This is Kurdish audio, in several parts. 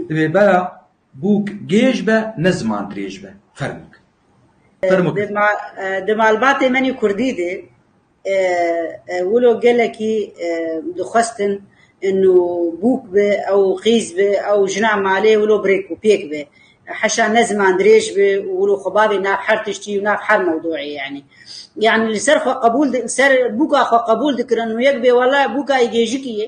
Divê bera bûk gêj be ne ziman dirêj be. Fermok. Fermok. Di malbatê menî kurdî de wilo gelekî dixwestin û bûk be ew qîz be ew jina malê wilo birêk û pêk be. Heşa ne ziman dirêj be û wilo xwe bavê nav her tiştî û nav her mewdûeyê yanî. Yanî li ser xwe qebûl li ser bûka xwe qebûl dikirin û yek bê wele bûka yê gêjikî yê.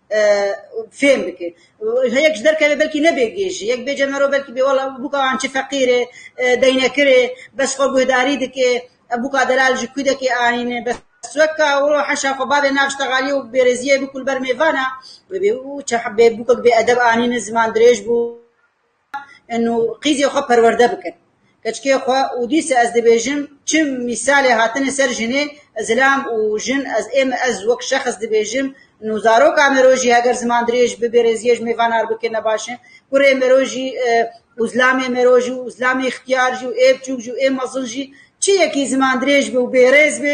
fêm bike. Yek ji derkeve belkî ne bê gê jî, yek bêje mero belkî bê wela bûka an çi feqîr ê, deynekir ê, bes xwe guhdarî dike, ev bûka delal ji kû deke anîne, bes weke wilo heşa xwe bavê nav ji texalîyê û bêrêzîyê bû ku li ber mêvan a, wê bê û çend bûkek bêedeb anîne, ziman dirêj bû. û qîzê xwe perwerde bikin keçikê xwe û dîsa ez dibêjim çi mîsalê hatine ser jinê zilam û jin ez ê min ez wek şexs dibêjim û zaroka me rojî heger ziman dirêj bi bêrêziyê ji mêvan ar bike ne baş in kurê me rojî û zilamê me rojî û zilamê îxtiyar jî ê biçûk jî ê mezin jî çi yekî ziman dirêj bi û bêrêz bi